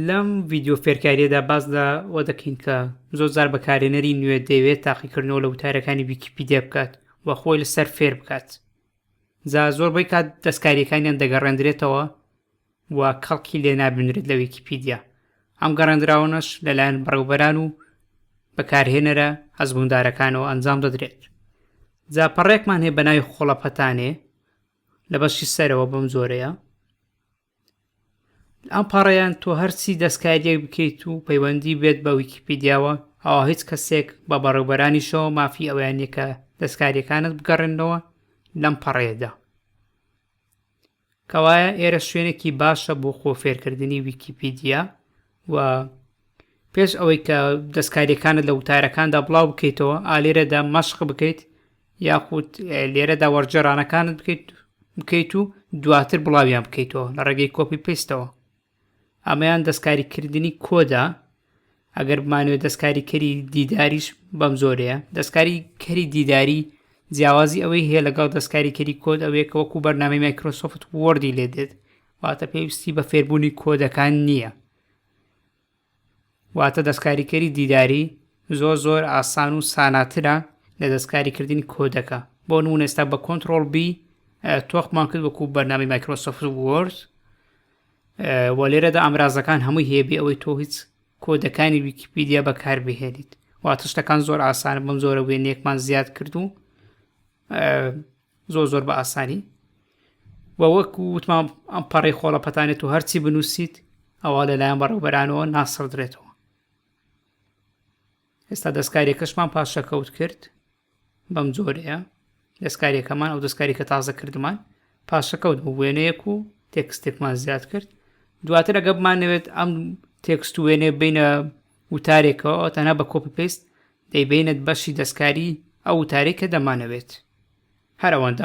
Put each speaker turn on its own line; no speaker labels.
لەم ڤیددیو فێرکاریەدا باز لە وە دەکەین کە زۆر زار بەکارێنەری نوێ دەوێت تاقیکردنەوە لە وتارەکانی ویکیپیدیا بکات و خۆی لەسەر فێر بکات جا زۆر بەی کات دەستکاریەکانیان دەگەڕێندرێتەوە و کەڵکی لێ نابینرێت لە ویکیپیدیا، ئەم گەڕێندراوەنەش لەلایەن بەڕێوبەران و بەکارهێنەرە ئەزموندارەکانەوە ئەنجام دەدرێت. جا پەڕێکمان هەیە بە ناوی خۆڵەپەتانێ لە بەشی سەرەوە بەم جۆرەیە ئەم پەڕیان تۆ هەرچی دەستکاریەک بکەیت و پەیوەندی بێت بە ویکیپیدیاوە ئەوە هیچ کەسێک بە بەڕێوبەرانیشەوە مافی ئەویانەکە دەستکاریەکانت بگەڕێنەوە لەم پەڕێدا کەوایە ئێرە شوێنێکی باشە بۆ خۆ فێرکردنی ویکیپیدیا و پێش ئەوەی کە دەستکاریەکانت لە وتارەکاندا بڵاو بکەیتەوە ئالێرەدا مەشق بکەیت یاخود لێرەدا وەرجێرانەکانت بکەیت بکەیت و دواتر بڵاویان بکەیتەوە لە ڕێگەی کۆپی پێستەوە ئەمەیان دەستکاریکردنی کۆدە ئەگەر بمانوێت دەستکاری کەری دیداریش بەم زۆرەیە دەستکاری کەری دیداری جیاوازی ئەوەی هەیە لەگەڵ دەستکاری کەری کۆد ئەوەیە کە وەکو بەرنامی مایکرۆسۆفت وەردی لێ دێت واتە پێویستی بە فێربوونی کۆدەکان نییە واتە دەستکاریکەری دیداری زۆر زۆر ئاسان و ساناترە لە دەستکاریکردنی کۆدەکە بۆ نمونە ئێستا بە کۆنتترۆل بی تۆخمان کرد وەکو بەرنامی مایکرۆسۆفت وۆرد و لێرەدا ئامرازەکان هەمووی هەیەبی ئەوەی تۆ هیچ کۆدەکانی ویکیپیدیا بەکاربهێنیت واتە شتەکان زۆر ئاسانە بەم زۆرە وێنەیەکمان زیاد کرد و زۆر زۆر بە ئاسانی و وەک وتمان ئەم پەڕی خۆڵەپەتانێت و هەرچی بنووسیت ئەوە لەلایەن بەڕێوبەرانەوە ناسڕدرێتەوە ئێستا دەستکاریەکەشمان پاشەکەوت کرد بەم جۆرەیە دەستکاریەکەمان ئەو دەستکاریکە تازە کردمان پاشەکەوت بۆ وێنەیەک و تێکستێکمان زیاد کرد دواتر ئەگە بمانەوێت ئەم تێکست و وێنێ بینە وتارێکەوە تەنها بە کۆپی پێست دەیبەینەت بەشی دەستکاری ئەو وتارەی کە دەمانەوێت. هەر ئەوەندە.